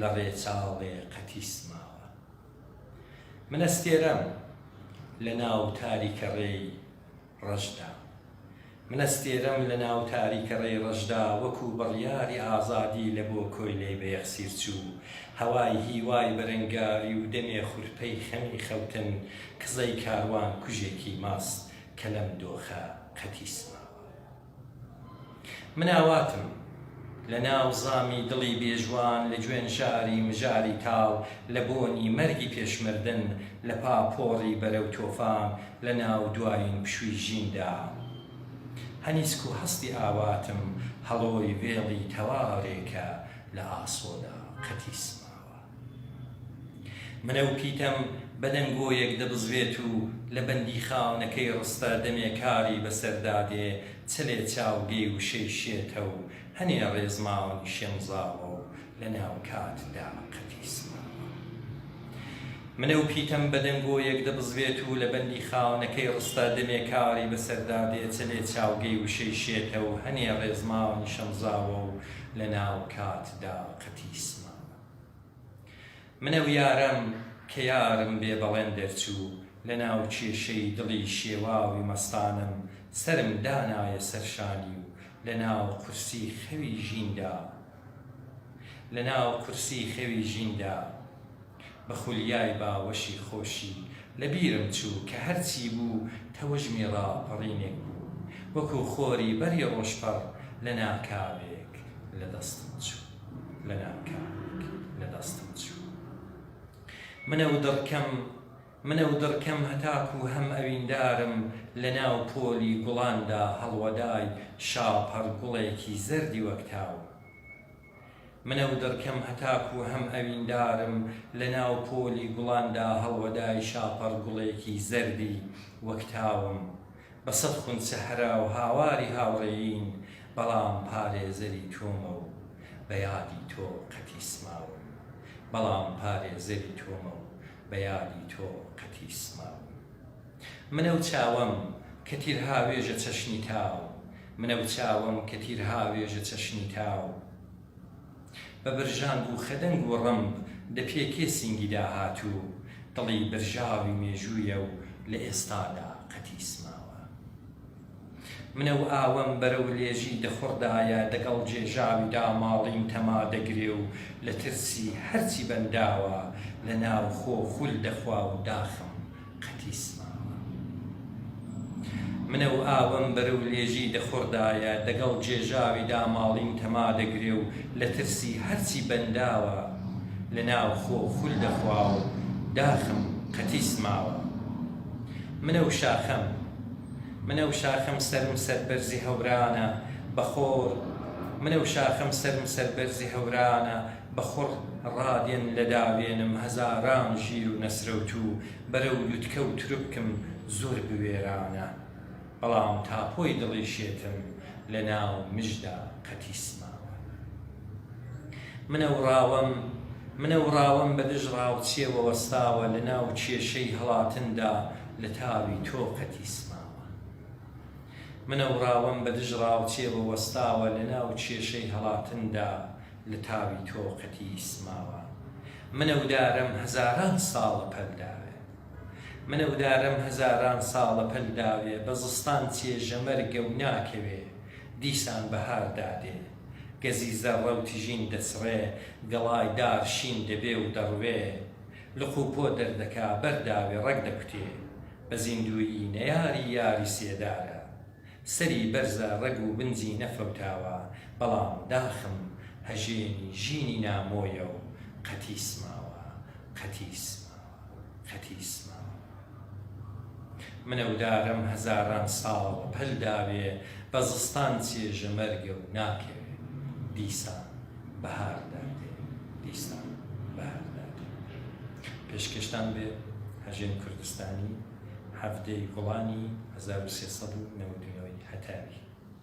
لە ڕێچاڵێ قەتیس ماوە. من ئەستێرەم لە ناو تاریکەڕێی ڕەشدا. من ئەستێرەم لە ناو تاریکەڕێی ڕەشدا وەکوو بڕیاری ئازادی لە بۆ کۆیلەی بەیەخسیر چوو، هەوای هیوای بەرەنگاری و دەمێ خورپەی خەمی خەوتن کزەی کاروان کوژێکی ماست کە لەم دۆخە قەتیس ماوە. من ئاواتم لە ناو زامی دڵی بێژوان لە جوێن ژاری مژاری تاڵ لە بۆنی مەرگی پێش مردن لە پاپۆڕی بەرەو تۆفان لە ناو دوایین پشووی ژیندا هەنیسک و هەستی ئاواتم هەڵۆی وێڵی تەوارێکە لە ئاسۆدا قەتیسمە. منە و پیتەم بە دەنگۆیەک دەبزوێت و لە بەندیخانەکەی ڕستە دەمێ کاری بەسەردا دێ، چلێ چاوگەی وشەی شێتە و هەنێ ڕێز ماون شێمزاوە و لە ناو کاتدا قەتی سڕاوە. منە و پیتەم بە دەنگۆیەک دەبزوێت و لە بەندیخانەکەی ڕستە دەمێ کاری بەسەردا دێ، چلێ چاوگەی وشەی شێتە و هەنێ ڕێز ماون شەمزاوە و لە ناو کاتدا قەتی سڕاوە. منە ویارەم کە یارم بێ بەڵێن دەرچوو لە ناو کێشەی دڵی شێواوی مەستانەم سەرم دانایە سەر شانی و لە ناو قورسی خەوی ژیندا لە ناو قورسی خەوی ژیندا بە خولیای باوەشی خۆشی لە بیرم چوو کە هەر چی بوو تەوژمی ڕاپەڕینێک بوو وەکوو خۆری بەری ڕۆژپەڕ لە ناکاوێک لە دەستم چوو. منم کامیک لە دەستم چوو منە و دڕکەم منە و دڕکەم هەتاکوو هەم ئەویندارم لە ناو پۆلی گوڵاندا هەڵوەدای شاپەڕ گوڵێکی زەردی وەک تاو منە و دڕکەم هەتاکوو هەم ئەویندارم لە ناو پۆلی گوڵاندا هەڵوەدای شاپەڕ گوڵێکی زەردی وەک تاوم بە سەد خون سەحرا و هاواری هاوڕێیین بەڵام پارێزەری تۆمە و بە یادی تۆ قەتی سماوم بەڵام پارێزەری تۆمە و بە یادی تۆ قەتی سماوم منە و چاوەم کە تیر هاوێژە چەشنی تاو منە و چاوەم کە تیر هاوێژە چەشنی تاو. بە برژانگ و خدنگ و ڕمب دەپێکێ سینگی داهاتوو دڵی برژاوی مێژوویە و لە ئێستادا قەتیس ماوە منە و ئاوەم بەرە و لێژی دەخوڕدایە دەگەڵ جێژاوی داماڵین تەما دەگرێ و لە ترسی هەرچی بەنداوە لە ناو خۆ خول دەخوا و داخم قەتی سماوە منە و ئاوم بەرەو لێژی دەخوڕدایە، دەگەڵ جێژاوی داماڵین تەما دەگرێ و لە ترسی هەرچی بەنداوە لە ناو خۆ خول دەخوا و داخم قەتی سماوە منە و شاخەم منە و شاخەم سەرم سەربەرزی هەورانە بە خۆر منە و شاخەم سەرم سەربەرزی هەورانە بە خوڕ ڕادێن لە داوێنم هەزاران ژیر و نەسرەوتو بەرەو لوتکە و تربکم زۆر بوێرانە بەڵام تاپۆی دڵی شێتم لە ناو مژدا قەتیس ماوە منەوڕاوەم منەوڕاوەم بە دژ ڕاوچێوە وەستاوە لە ناو کێشەی هەڵاتندا لە تاوی تۆ قەتیس ماوە منەوڕاوەم بە دژ ڕاوچێوە وەستاوە لە ناو کێشەی هەڵاتندا لە تاوی تۆ قەتی سماوە من ئەو دارەم هەزاران ساڵە پەل داوێ من ئەو دارەم هەزاران ساڵە پەل داوێ بە زستان چێژە مەرگە و ناکەوێ دیسان بەهار دادێ گەزی زەڕە و تژین دەچڕێ گەڵای دار شین دەبێ و دەڕوێ لق و پۆ دەردەکا بەر داوێ ڕەگ دەکوتێ بە زیندوویی نەیاری یاری سێدارە سەری بەرزە ڕەگ و بنجی نەفەوتاوە بەڵام داخم هەژێنی ژینی نامۆیە و قەتیس ماوە قەتیس ماوە قەتیس ماوە منە و دارم هەزاران ساڵ پەل داوێ بە زستان چێژە مەرگە و ناکەوێ دیسان بەهار دادێ دیسان بەهار دادێ پێشکەشتان بێ هەژێن کوردستانی. هەڤدە ی گوڵانی هەزار و سێ سەد و نەوەد و نۆ ی هەتاوی.